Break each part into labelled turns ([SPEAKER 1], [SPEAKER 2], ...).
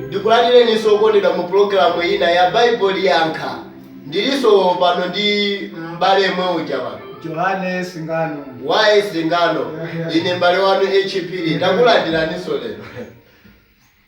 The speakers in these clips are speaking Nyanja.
[SPEAKER 1] Ndikulandireninso okondedwa mu pulogalamu ina ya Baibulo Liyankha. Ndilinso pano ndi m'bale yemwe uja pano. Johane Singano. Y. Singano, ine m'bale wanu H. Phiri, takulandilaninso lero.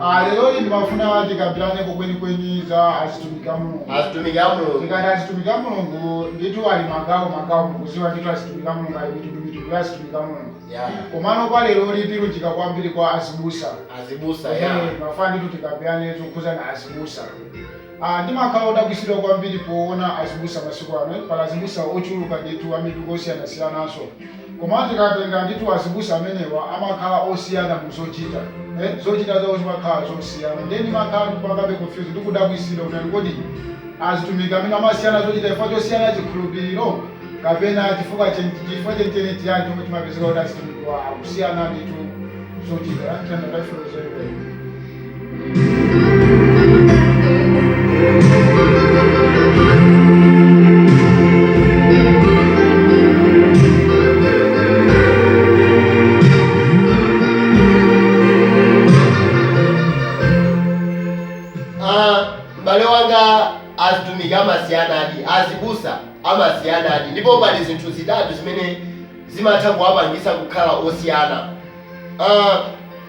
[SPEAKER 1] Ah, lero inu mafuna tikambiraneko kwenikweni za azitumiki a mulungu azitumiki a mulungu tikati azitumiki a mulungu ndithu ali magawo magawo mukuziwa ndithu azitumiki a mulungu ali mitundu mitundu ya azitumiki a mulungu Yeah. komano kwa lero tilunjika kwambiri kwa azibusa azibusa ya Eh, mafuna ndithu tikambirane zokhuzana azibusa Ah, ndimakhala odabwitsidwa kwambiri poona azibusa masiku ano. Pali azibusa ochuluka ndithu a mipingo yosiyanasiyananso. Komano tikatenga ndithu azibusa amenewa amakhala osiyana mu zochita. Eh, zochita zawo zimakhala zosiyana. Ndiye ndimakhala ndikupangabe confuse ndi kudabwitsidwa kuti nanga kodi azitumiki amenewa amasiyana zochita chifukwa chosiyana chikhulupiriro? Kapena chifukwa cheni, chifukwa cheni cheni nchiyani chomwe chimapezeka kuti azitumikiwa akusiyana ndithu zochita? Landani Baibulo zeni zeni. Ah, m'bale wanga azitumiki amasiyanadi azibusa amasiyanadi ndipo pali zinthu zitatu zimene zimatha kuwapangisa kukhala osiyana Ah,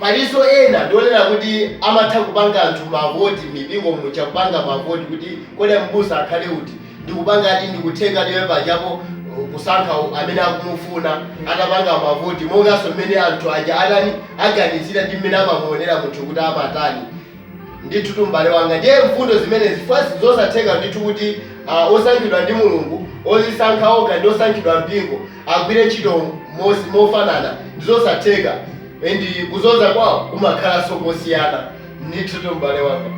[SPEAKER 1] Palinso ena ndi onena kuti amatha kupanga anthu ma vote mmipingo muja kupanga ma vote kuti kodi a m'busa akhale uti ndikupangadi ndikutengadi iwe pajapo kusankha amene akumufuna atapanga ma vote monganso mmene anthu aja atani aganizira ndi mmene amamuonera munthu kuti amatani ndithutu m'bale wanga ndiye mfundo zimenezi chifukwa nzosatheka ndithu kuti osankhidwa ndi Mulungu ozisankha okha ndi osankhidwa ndi mpingo agwire ntchito mofanana ndizosatheka and kuzoza kwawo kumakhalanso mosiyana ndithutu m'bale wanga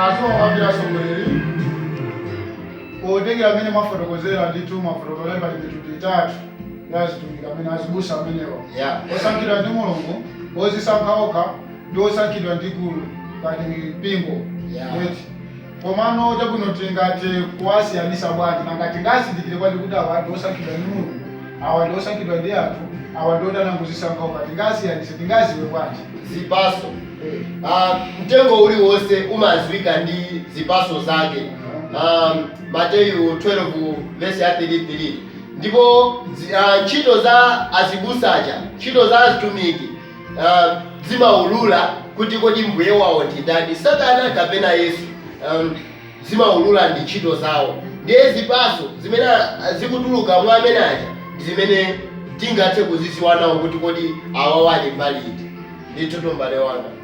[SPEAKER 1] aziwawambira atsogoleri potengera amene mwafotokozera ndithu mwafotokozera pali mitundu itatu ndi azitumiki amene azibusa amenewa yeah. osankhidwa ndi mulungu ozisankha okha ndi osankhidwa ndi gulu ngati mpingo yeah. eti komano chabwino tingathe kuwasiyanisa bwanji nanga tingazindikire bwanji kuti awa ndi osankhidwa ndi mulungu awa ndi osankhidwa ndi anthu awa ndi oti anangozisankha okha tingasiyanise tingaziwe bwanji zipaso uh, mtengo uliwonse umaziwika ndi zipaso zake um, mateyu 12 vesi ya 33 Ndipo dzi, uh, ntchito za azibusa aja, ntchito za azitumiki uh, zimaulula kuti kodi mbuye wawo ndi ndani, Satana kapena Yesu. Um, zimaulula ndi ntchito zawo, ndiye zipaso zimene a- zikutuluka mwa amene aja ndi zimene tingathe kuzidziwa nawo kuti kodi awawa ali mbali iti. Ndithutu mbale wanga.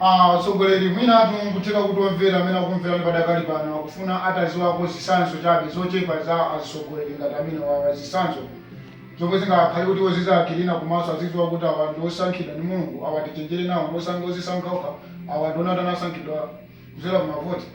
[SPEAKER 1] A tsogoleri, mwinatu nkutheka kuti omvera amene akukumverani padakali pano akufuna ataziwako zitsanzo chabe zochepa za azitsogoleri ngati amenewawa, zitsanzo zomwe zingakhale kuti iwo azizawachilira komanso azidziwa kuti awa ndi osankhidwa ndi Mulungu, awa tichenjere nawo, ndi osankha ozisankha okha, awa ndi onati anasankhidwa kudzera ku mavoti.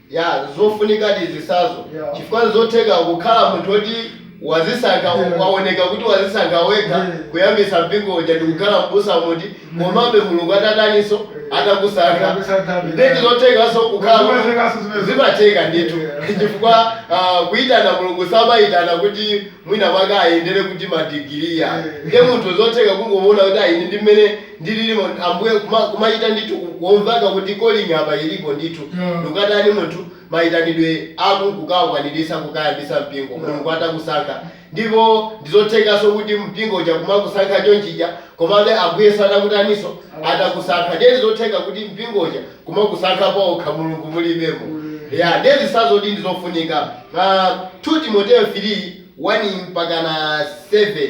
[SPEAKER 1] Ya, zofunikadi zisazo Yeah. chifukwa nzotheka kukhala munthu oti wazisankha Yeah. waoneka kuti wazisankha wekha Yeah. kuyambisa mpingo uja ndikukhala mbusa koma mutu komabe mulungu atakutaninso Yeah. atakusankha Atakusankha, ndi yeah. ndizothekanso kukhala Mulungu kuti- athekaso zimenezo. zimatheka ndithu Yeah. chifukwa ah, kuyitana mulungu samayitana kuti mwina mwake ayendere kuti madigiriya Yeah. ndiye munthu zotheka kungomuona kuti a ine ndi mmene ndi lilimo ambuye kuma kumachita ndithu ku kumvaka kuti calling apa ilipo ndithu Yeah. ndikukatani munthu maitanidwe ake kukawakwanilisa kukayambisa mpingo Yeah. mulungu atakusankha ndipo ndizothekaso kuti mpingo uja kumakusankha chonchija komabe ambuye asanakutaniso atakusankha ndiye ndizotheka kuti mpingo uja kumakusankha paokha mulungu mulibemo Mm. ya ndiye zisazozi ndizofunika uh, 2 timoteo 3 1 mpakana 7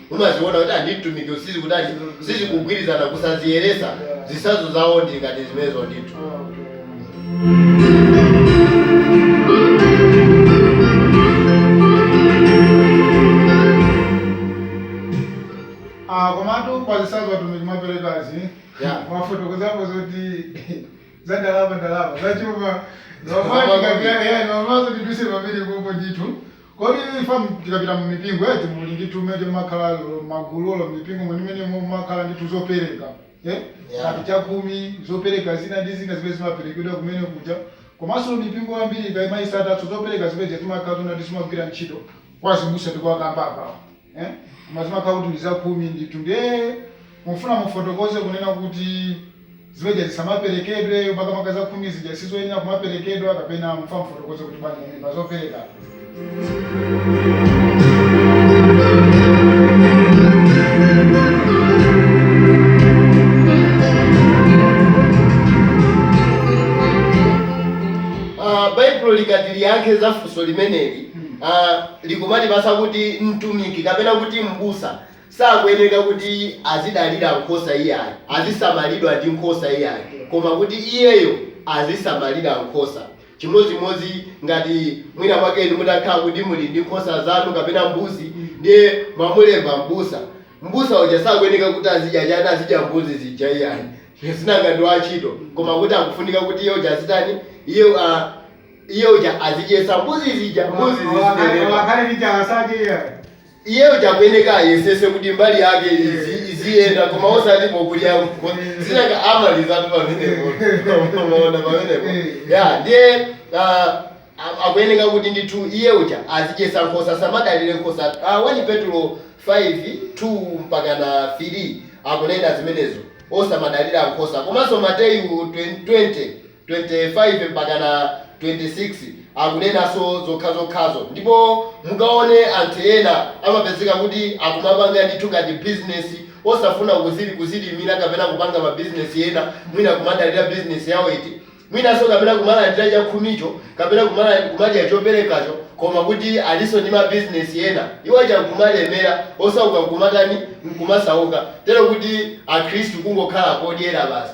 [SPEAKER 1] mumaziona kuti ah ndi mtumiki uyu sizikutani sizikugwirizana kusaziyeresa zisazo zawo ndi ngati zimenezo ndithu Ah, komatu pa zisazo atumiki mwaperekazi Yeah. mwafotokozapo zoti za ndalama ndalama zachuma Ndalama. nomati ngati ya- ya- nomazo tiduse pamene popo ndithu Kodi ife tikapita mu mipingo eti muli ndi timeneti timakhala olo magulu olo mipingo mwenimwenimo mumakhala ndi tuzopereka eh ngati chakhumi zopereka zina ndi zina zimene zimaperekedwa kumene kuja komanso mipingo yambiri ikamaisata zopereka zimene zija zimakhala zonati zimagwira ntchito kwa azibusa tikuwakamba apawa eh koma zimakhala kuti ndi zakhumi ndithu ndiye mufuna mufotokoze kunena kuti zijazi zisamaperekedwe makamaka zakhumi zija sizoyenera kumaperekedwa kapena mufuna mufotokoze kuti bwanji pamene pazopereka Ah, baibulo likati liyankhe za funso limeneli a, likumatipatsa kuti mtumiki, kapena kuti m'busa, sakuyenereka kuti azidalira nkhosa iyayi, azisamalidwa ndi nkhosa iyayi, koma kuti iyeyo azisamalira nkhosa. Chimodzimodzi ngati mwina mwake inu mutakhala kuti muli ndi nkhosa zanu kapena mbuzi, ndiye mwamulemba m'busa, m'busa uja sakuyenereka kuti azidya chani, azidya mbuzi zija iyayi, sinanga ndi wantchito, koma kuti akufunika kuti iye uja azitani, iye a, Iye uja azidyetsa mbuzi zija, mbuzi Olo akhale- olo zizinenepa. akhale ndi njala sadye iyayi. Iye uja akuyeneka ayesese kuti mbali yake izi- iziyenda koma osati pokudya mbo- sinanga amalizatu pamenepo. Unaona pamenepo. Ya, ndiye ah, a- akuyeneka kuti ndithu iye uja azidyetsa nkhosa osamadalira nkhosa. Ah, 1 Petulo 5, 2 mpaka na 3 akunena zimenezo. Osamadalira nkhosa. Komanso Mateyu 20, 20 25-26 akunenanso zokhazokhazo ndipo mukaone anthu ena amapezeka kuti akumapanga ndithu ngati business osafuna kuzili kuzilimira kapena kupanga ma business ena mwina kumadalira business yawo iti mwinanso kapena kumalandira chakhumicho kapena kumalandi kumadya choperekacho koma kuti alinso ndi ma business ena iwaja nkumalemera osauka nkumatani nkumasauka tero kuti akhristu kungokhala podyera basi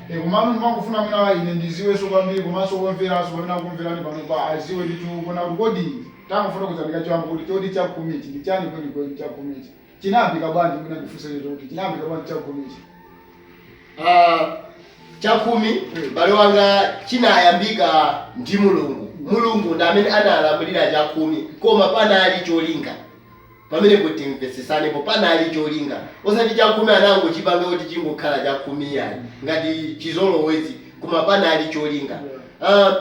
[SPEAKER 1] E, komano ndimangofuna mwina ine ndiziwenso kwambiri komanso omveranso pamene akumverani panopa aziwe ndithu kuona kuti kodi tangofotokozani kachiyambi kuti choti chakhumichi ndi chani kwenikweni chakhumichi chinayambika bwanji mwina ndifunse icho kuti chinayambika bwanji chakhumichi Ah, chakhumi bale wanga chinayambika ndi mulungu mulungu ndi amene analamulira chakhumi koma panali cholinga pamenepo timvetsetsanepo panali cholinga osati chakhumi anangochipanga kuti chingokhala chakhumi iyayi ngati chizolowezi koma panali cholinga uh,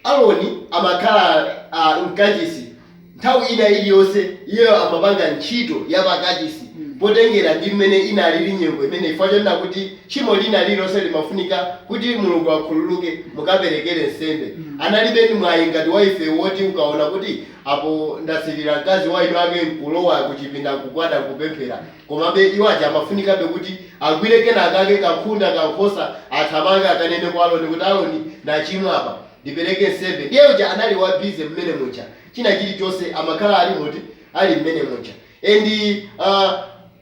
[SPEAKER 1] Aroni amakhala uh, mkachisi nthawi ina iliyonse iyeyo amapanga ntchito ya pakachisi potengera ndi mmene inalili nyengo imeneyo chifukwa chonena kuti tchimo lina lililonse limafunika kuti Mulungu akhululuke mukaperekere nsembe analibe ndi mwayi ngati wa ife woti ukaona kuti Apo ndasilira, mkazi wa ine kungolowa kuchipinda nkugwada nkupemphera. Komabe, iwo aja amafunikabe kuti agwire kena kake, kankhunda, kankhosa, athamange akanene kwa Aroni kuti, Aroni, ndachimwa apa. Ndipereke nsembe. Ndiye uja anali wa busy mmene muja. China chili chonse amakhala ali muti? Ali mmene muja. And, uh.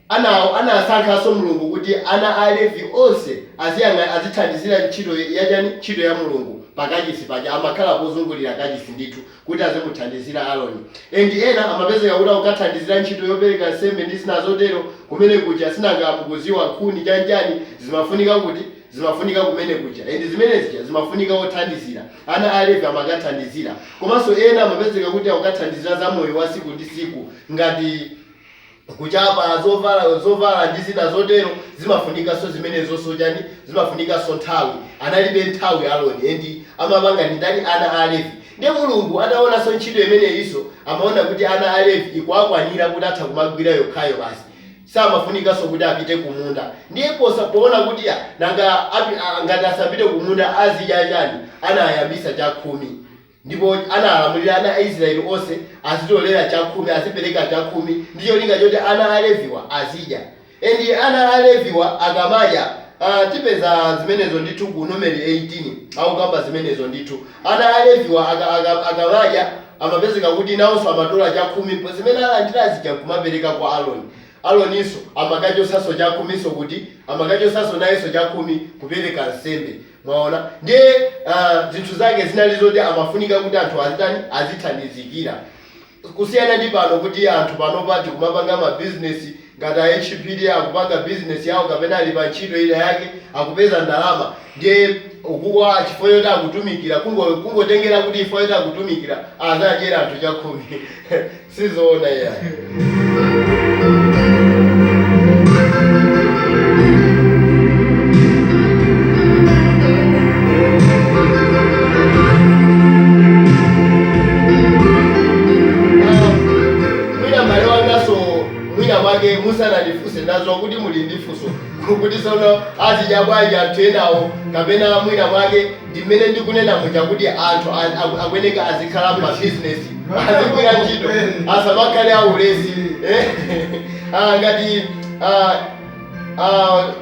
[SPEAKER 1] Anawo anasankhanso Mulungu kuti ana a Levi onse aziyang'ana, azithandizira ntchito ya chani, ntchito ya Mulungu pa kachisi paja, amakhala kuzungulira kachisi ndithu kuti azimuthandizira Aroni and ena amapezeka kuti akukathandizira ntchito yopereka nsembe ndi zina zotero kumene kuja, sinanga mukuziwa nkhuni chani chani zimafunika kuti, zimafunika kumene kuja and zimene zija zimafunika othandizira, ana a Levi amakathandizira komanso ena amapezeka kuti akukathandizira za moyo wa siku ndi siku ngati. kuchapa zovala, zovala ndi zina zotero, zimafunikanso zimenezonso, chani, zimafunikanso nthawi, analibe nthawi Aroni, nde amapanga ndi ndani, ana a Levi, ndiye Mulungu ataonanso ntchito imeneyinso, amaona kuti ana a Levi ikuwakwanira kuti atha kumagwira yokhayo basi, samafunikanso kuti apite kumunda, ndiye posa, poona kuti ah, nanga apa, ngati asapite kumunda azidya chani, anayambisa chakhumi. Ndipo analamulira ana a Israele onse azitolera chakhumi, azipereka chakhumi, ndi cholinga choti ana a Leviwa azidya. And ana a Leviwa akamadya, ah, tipeza zimenezo ndithu ku Numeri 18, akukamba zimenezo ndithu. Ana a Leviwa aka, aka, akamadya, amapezeka kuti nawonso amatola chakhumi pa zimene alandira zija nkumapereka kwa Aroni. Aroninso amakachotsanso chakhuminso kuti, amakachotsanso nayenso chakhumi kupereka nsembe. Mwaona, ndiye, a, zinthu zake zinali zoti amafunika kuti anthu azitani, azithandizikira. Kusiyana ndi pano kuti anthu panopa tikumapanga mabizinesi, ngati a HPD akupanga bizinesi yawo kapena ali pa ntchito ina yake, akupeza ndalama, ndiye uku chifukwa choti akutumikira, kungo, kungotengera kuti chifukwa choti akutumikira azidyera anthu chakhumi. sizoona iyayi Ah, mwina mbale wangaso mwina mwake musanandifunse ndadziwa kuti muli ndi funso kuti sono azidya bwanji anthu enawo kapena mwina mwake Chimene ndikunena nchakuti anthu a, a, akuyeneka azikhala m'mabizinesi, azigwira ntchito, asamakhale aulesi. Eh? Ah, ngati ah, ah,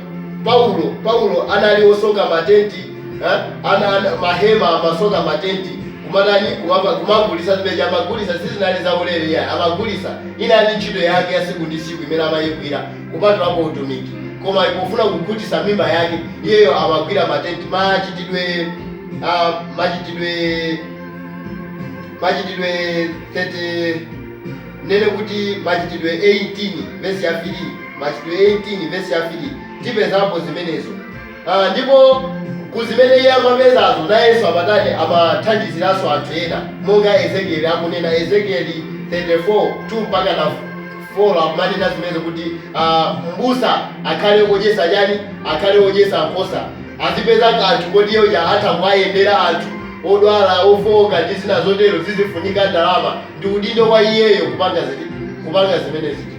[SPEAKER 1] Paulo Paulo anali osoka matenti eh? ana, ana, mahema amasoka matenti kumatani kumapa, kumagulisa zimene amagulisa sizinali zaulere iyayi amagulisa inali ntchito yake ya siku ndi siku imene amayigwira kupatulapo utumiki. Koma pofuna kukhutisa mimba yake, iyeyo amagwira matenti, Machitidwe a Machitidwe Machitidwe 30 ndinene kuti Machitidwe 18 vesi ya 3 Machitidwe 18 vesi ya 3 tipezapo zimenezo. Ha, ndipo ku zimene iye amapezazo, nayenso amatani amathandiziranso anthu ena, monga Ezekieli akunena, Ezekieli 34, 2 mpakana 4, akumanena zimenezo kuti a, m'busa akhale wodyetsa chani, akhale wodyetsa nkhosa, azipeza kanthu koti iye uja atha kuwayendera anthu odwala, ofooka, ndi zina zotero, zizifunika ndalama, ndi udindo wa iyeyo kupanga ziti, kupanga zimene zija.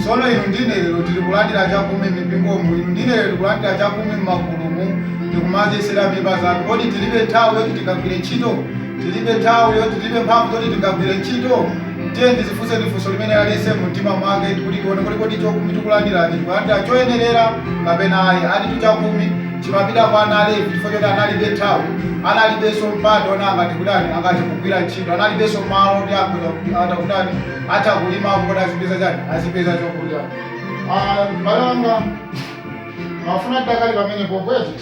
[SPEAKER 1] Tsono inu ndi ine lero tili kulandira chakumwi m'mipingomu, inu ndi ine lero tikulandira chakumwi m'magulumu ndi kumadyetsera mimba zathu. Kodi tilibe nthawi yoti tingagwire ntchito? Tilibe nthawi yoti, tilibe mphamvu zoti tingagwire ntchito? Tiyeni tidzifunseni funso limeneli aliyense mu mtima mwake kuti tione kuti kodi chakumwi tikulandirachi tikulandira choyenerera kapena ayi. Ati tu chakumwi chimapita kwa ana a Levi chifukwa choti analibe nthawi, analibenso mpata woti angathe kutani, angathe kugwira ntchito, analibenso malo oti akhoza, akatha kutani, atha kulimako kuti azipeza chani azipeza chokudya ah m'bale wanga ndimafuna tidakali pamenepo eti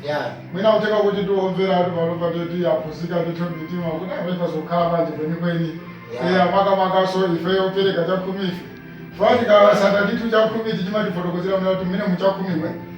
[SPEAKER 1] yeah mwina kutheka kuti otimvera athu pa lopa eti aphunzira ndithu mitima kuti apeka zokhala bwanji kwenikweni Yeah. eya makamakanso ife opereka chakhumi ife tikatsata ndithu chakhumi tichimatifotokozera mna kuti mmene muchakhumi mwe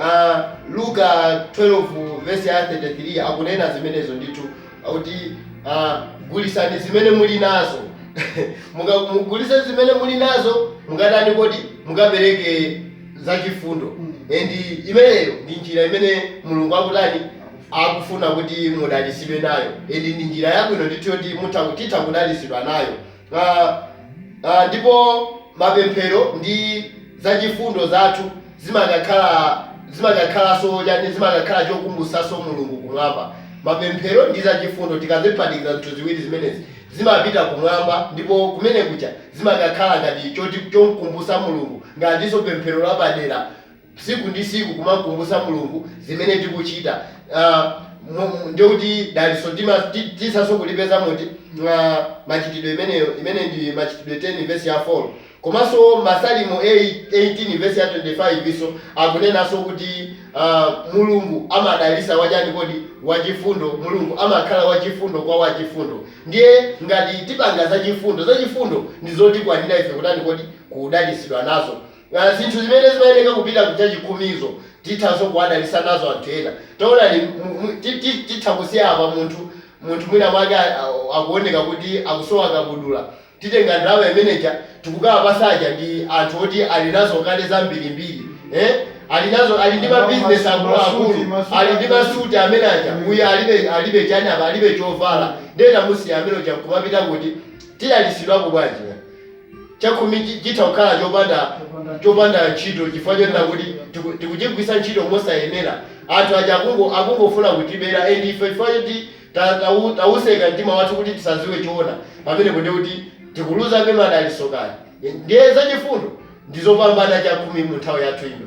[SPEAKER 1] A. Luka 12 vesi ya 33 akunena zimenezo ndithu, kuti, a, Gulitsani zimene muli nazo. Muka, mugulitse zimene muli nazo, mukatani kodi? Mukapereke zachifundo. And imeneyo ndi njira imene Mulungu akutani, akufuna kuti mudalitsidwe nayo, and ndi njira yabwino ndithu yoti mutha, titha kudalitsidwa nayo. a, a, ndipo mapemphero ndi zachifundo zathu zimakakhala, zimakakhalanso chani, zimakakhala chokumbutsanso Mulungu Kumwamba. Mapemphero ndi zachifundo, tikaziphatikiza zinthu ziwiri zimenezi, zimapita Kumwamba, ndipo kumene kuja zimakakhala ngati choti, chomkumbutsa Mulungu, ngatinso pemphero lapadera, tsiku ndi tsiku kumamkumbutsa mulungu zimene tikuchita uh, ndiye kuti dalitso tithanso kulipeza moti mwa machitidwe imeneyo imene ndi machitidwe 10 vesi ya 4 komanso masalimo 18 vesi ya 25 nso akunenanso kuti uh, mulungu amadalitsa wachani kodi wachifundo mulungu amakhala wachifundo kwa wachifundo ndiye ngati tipanga zachifundo zachifundo ndi zotikwanira ife kutani kodi kudalitsidwa nazo Ngati zinthu zimene zimayeneka kupita ku chachikhumizi, tithanso kuwadalisa nazo anthu ena. Taonani, mu, mu, ti, ti, titha kusiya apa munthu, munthu mwinamwake a, a, akuwoneka kuti akusowa kabudula, tikutenga ndalama imene ija, tikukawapasa aja, ndi anthu oti ali nazo kale zambirimbiri. Eh? Ali nazo, ali ndi Ana awo mabizinesi akulu akulu, masuti, masuti, masuti ali ndi masuti ambiri. amene aja. Uyu Eya. alibe, alibe chani apa, alibe chovala. Ndiye tamusiya amene uja nkumapita kuti? Tidalitsidwano bwanji, ngati. chakhumi chitha kukhala chopanda chopanda ntchito chifukwa chotinena kuti tiku- tikuchigwiritsa ntchito mosayenera anthu aja akungo akungofuna kutibera and ife chifukwa choti ta- tau- tautseka mtima wathu kuti tisadziwe choona pamenepo ndiye kuti tikuluzabe madalitso kaya ndiye zachifundo ndizopambana chakhumi mu nthawi yathu ino.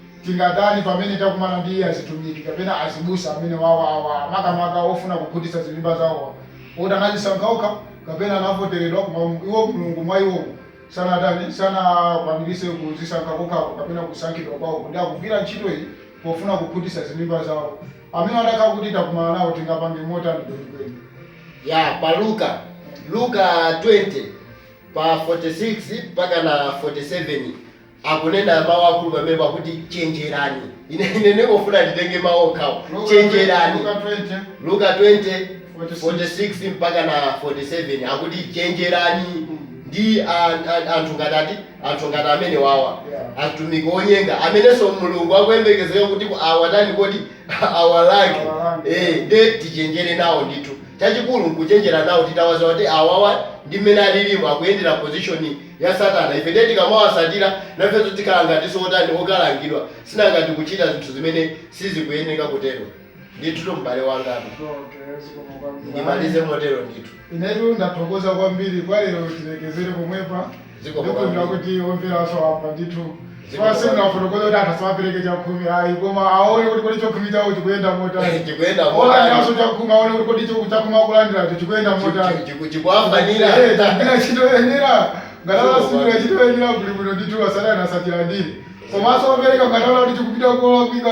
[SPEAKER 1] Tingatani pamene takumana ndi azitumiki kapena azibusa amene wawawa, makamaka ofuna kukhutitsa zimimba zawowa, oti anadzisankha okha kapena anavoteredwa koma iwo Mulungu mwa iwowo sanatani, sanakwaniritse kudzisankha kokhako kapena kusankhidwa kwawo kuti akugwira ntchito iyi pofuna kukhutitsa zimimba zawo. Amenewa atakhala kuti takumana nawo tingapange motani kwenikweni? Eya pa Luka, Luka 20 pa 46 mpaka na 47. akunena mawu akulu pamenepo akuti chenjerani ine ine ndingofuna nditenge mawu okhawo chenjerani Luka 20, luka 20 46 mpaka na 47 akuti chenjerani ndi an- an- anthu ngati ati anthu ngati amene wawa atumiki onyenga amenenso mulungu akuyembekezeka kuti ku- awatani kodi awalange Awalange. eh nde tichenjere nawo ndithu chachikulu nkuchenjera nawo titawadziwa kuti awawa ndi mmene alilimu akuyendera position ya Satana. Ife ndiye tikamawatsatira, nafenso tikhala ngatinso otani, okalangidwa, sinanga tikuchita zinthu zimene sizikuyeneka kutero. Ndithutu m'bale wanga. Okay, zikomo kwambiri. Ayi, ndimalize motero ndithu. inetu ndathokoza kwambiri kwa lero tilekezere pomwepa. Zikomo Ndikhulupirira kwambiri. kuti omveranso amva ndithu. Zikomo. Si kuti tafotokoza kuti anthu asamapereke chakhumi ayi koma aone kuti kodi chakhumi chawo chikuyenda motani. Chikuyenda motani. Olandiranso chakhumi aone kuti kodi chiku- chakhumi akulandiracho chikuyenda motani. Chiku- chikuwayenera. Eh, chikugwira ntchito yoyenera. Ngati Zikomo. sichikugwira ntchito yoyenera kuli bwino ndithu asatani asachilandire. Komanso opereka ngati aona kuti chikupita kolakwika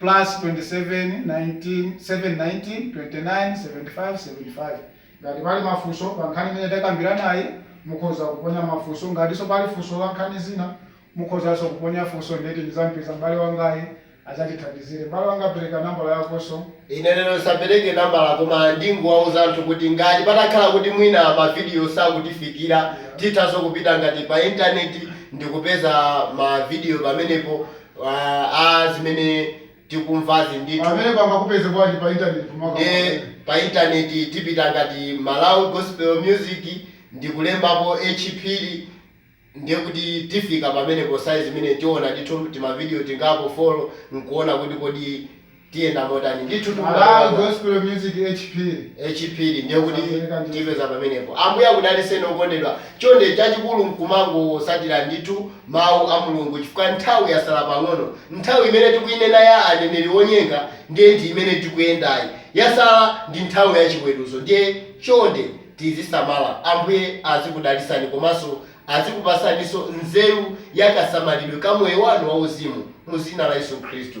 [SPEAKER 1] Plus 27 19 7 19 29 75 75 ngati tipali mafunso pa nkhani imene takambiranayi mukhoza kuponya mafunso ngatinso pali funso la nkhani zina mukhozanso kuponya funso ndithu ndizampeza m'bale wangayi azatithandizire m'bale wanga pereka nambala yakonso. Ine lero ndisapereke nambala koma ndingowauza anthu kuti ngati patakhala kuti mwina ma video sakutifikira tithanso kupita ngati pa internet ndikupeza ma video pamenepo Ah, ah, zimene tikumvazi ndithu amene pangakupeze bwanji pa internet makamaka ndiye pa intaneti tipita ngati malawi gospel music ndikulembapo H Phiri ndiye kuti tifika pamenepo sayizi imene tiona ndithu timavidiyo tingapo follow nkuona kuti kodi Tiyenda motani? Ndithudi mumalowa mwa Malawi Gospel Music H Phiri. H Phiri ndiye kuti Asamveka ndithu. tipeza pamenepo. Ambuye akudaliseni okondedwa. Chonde chachikulu mkumangotsatira ndithu mau a Mulungu chifukwa nthawi yatsala pang'ono. Nthawi imene tikuinena ya aneneri onyenga ndiye ndi imene tikuyendayi. Yatsala ndi nthawi ya chiweruzo ndiye chonde tizisamala. Ambuye azikudalitsani komanso azikupatsaninso nzeru ya kasamalidwe ka moyo wanu wauzimu mu dzina la Yesu Khristu.